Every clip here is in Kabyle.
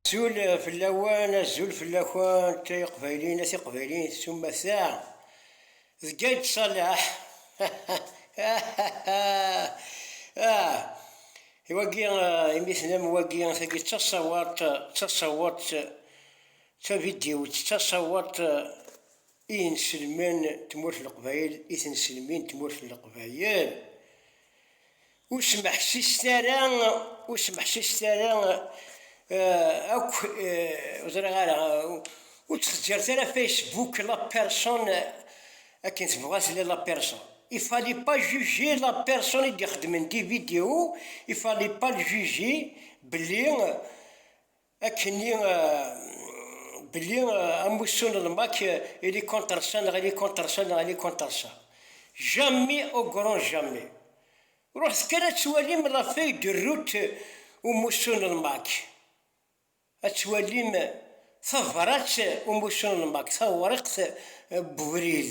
Azul fell-awen, azul fell-akent, ay iqbayliyen, ay tiqbayliyin, s umata, d Gayd Ṣaleḥ, i wagi imi tenam wagi, tagi d taṣawaḍt, d taṣawaḍt tavidyewt, d taṣawaḍt i yenselmen tmurt n Leqbayel, i tenselmin tmurt n Leqbayel. Ur smeḥsiset ara, ur smeḥsiset ara eh, akk, eh, ur ẓriɣ ara, ur ttxeǧǧiret ara Facebook la personne eh, akken tebɣa tella la personne. Il fallait pas juger la personne i d-ixeddmen di vidéo, il fallait pas le juger belli Akkenni belli amussu n lmak ili contre ça neɣ ili contre ça neɣ ili contre ça. Jamais au grand jamais. Ruḥet kan ad twalim la feuille de route umussu n lmak. Ad twalim tabrat umussu n lmak, tawriqt n ubrid.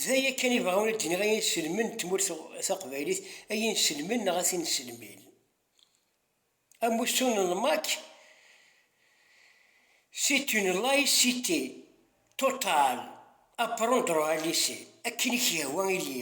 D aya kan i bɣiɣ ad d-iniɣ, ay inselmen n tmurt taqbaylit, ay inselmen neɣ at inselmin. Amussu n lmak, c'est une laïcité totale, apprendre à laisser, akken i k-yehwa ili.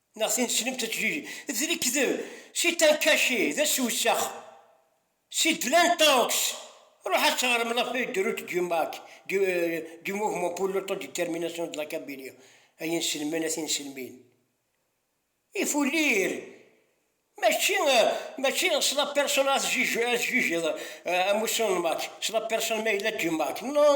Neɣ tin tessnem tajjiji. D lekdeb. Si Tankachi, d asewsex. Si Dylan Tanks, ruḥ ad teɣrem La feuille de route du Mac, du, du mouvement pour l'autodétermination de la Kabylie, ay inselmen a tinselmin. Ifullir! Mačči, mačči s la personne ad tjijjeḍ amussu n Mac, s la personne ma yella du Mac. Non!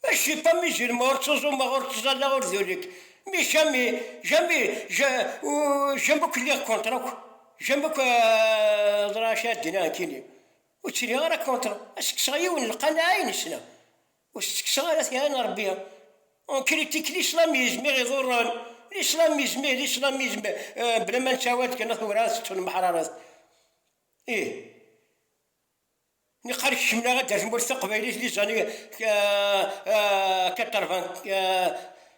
Eci pa mi je ne me ortozum ma ortozalla or dönek. Mi jami jami je jami kliɣ kontra akk jami akk ḍra acu ara d-iniɣ nekkini ur ttiliɣ ara kontra ad s-kkseɣ yiwen n lqanaɛ i nesla ur s-tt-kkseɣ ara tira n Rebbi on critique l'islamisme i ɣ-iḍurren l'islamisme l'islamisme bla ma nettawad kan werɛad tettnemḥrareḍ ih. Niqal kekmen aɣ-d ar tmurt taqbaylit les années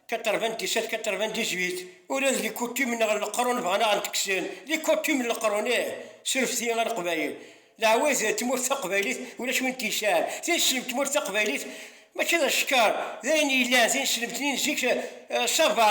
quatre-vingt-dix-sept quatre-vingt-dix-huit, ula d les coutumes neɣ leqrun bɣan aɣ d-kksen, les coutumes n leqrun ih, surefet-iyi a leqbayel, leɛwayed n tmurt taqbaylit ulac win t-yesɛan, tineslemt n tmurt taqbaylit mačči d acekkeṛ, d ayen yellan, tineslemt-nni n zik ça va.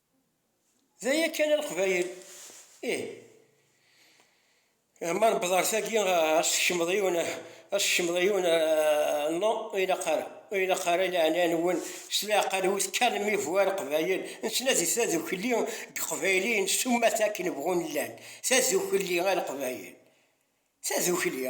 D aya kan a Leqbayel! Ih, ma newweḍ ar tagi, ad s-tekcmeḍ yiwen, ad s-tekcmeḍ yiwen, non, ur ilaq ara, ur ilaq ara, i leɛnaya-nwen, s leɛqel-iw, tekkalem-iv a Leqbayel, nettnadi tadukli n Yeqbayliyen s umata akken bɣun llan, tadukli a Leqbayel, tadukli!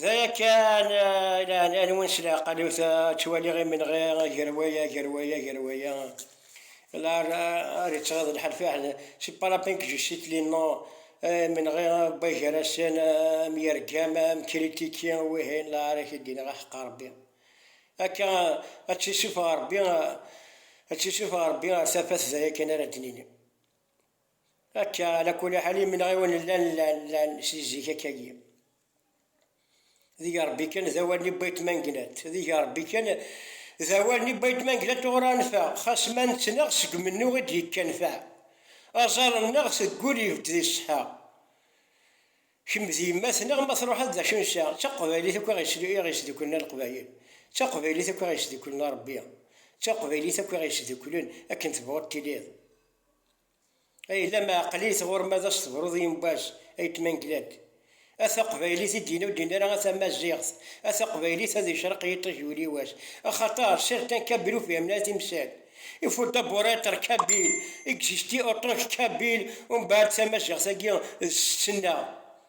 D aya kan i leɛnaya-nwen s leɛqel-iw ta, ttwaliɣ imenɣi gar waya gar waya gar waya. La ar ittɣiḍ lḥal fiḥel si palapin que je cite les noms, imenɣi wway gar-asen am yergam am kritiki wihin la ar ak-id-iniɣ aḥeqqa Rebbi akka ad tt-isufeɣ Rebbi ad tt-isufeɣ Rebbi ar tafat d aya kan ara d-nini. Akka, ala kuli ḥal imenɣiwen llan llan si zik akka-agi. Deg Rebbi kan d awal n Ibayt Manglat, deg Rebbi kan d awal n Ibayt Manglat ur anfeɛ, xas ma nettnaɣ seg umennuɣ i d-yekkanfeɛ, aẓar-nneɣ teggul ibedd di ṣṣeḥa. Kemm d yemma-tneɣ ma truḥeḍ d acu nesɛa, d taqbaylit akk i ɣ-isdukklen a Leqbayel, d taqbaylit akk i ɣ-isdukklen a Rebbi, d taqbaylit akk i ɣ-isdukklen akken tebɣuḍ tiliḍ. Ay la maɛqlit ɣur ma d as tebruḍ i Mbaz ay tmanglad. A taqbaylit i d-yenna ur d-yenna ara a tamaziɣt, a taqbaylit ad yecreq yiṭij uriwas. Axaṭer certains kabyles fehhmen a timsal. Il faut d'abord être kabyle, exister en tant que kabyle, umbeɛd tamaziɣt-agi d ssena.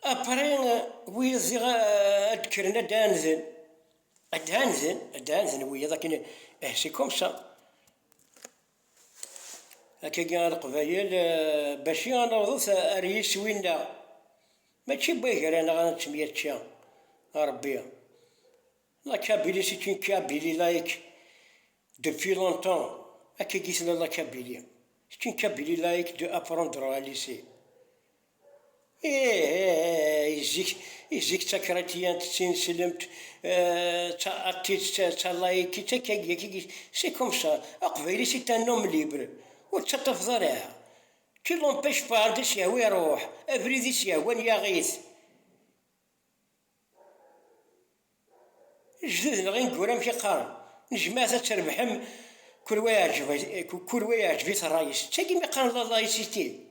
Apre wiyaḍ ziɣ ad d-kkren ad d-anzen, ad d-anzen, ad d-anzen wiyaḍ akken eh c'est comme ça. Akkagi a Leqbayel baci a nawḍet ar yiswi-nneɣ, mačči n wagraneɣ a nettemyačča, a Rebbi. La Kabylie c'est une Kabylie laïque depuis longtemps, akkagi tella la Kabylie, c'est une Kabylie laïque de apprendre à lycée. Ih, zik, zik d takriṭyant d tineslemt, d tidet d talayikit akka i, c'est comme ça, aqbayli c'est un homme libre, ur ttaṭṭafeḍ ara, qui l'empêche pas, anda as-yehwa iruḥ, abrid i as-yehwan yaɣ-it, lejdud neɣ ineggura amek i qqaren, n jmaɛt ad trebḥem, kul wa yeɛǧeb-it ṛṛay-is, d tagi mi qqaren lalayisiti.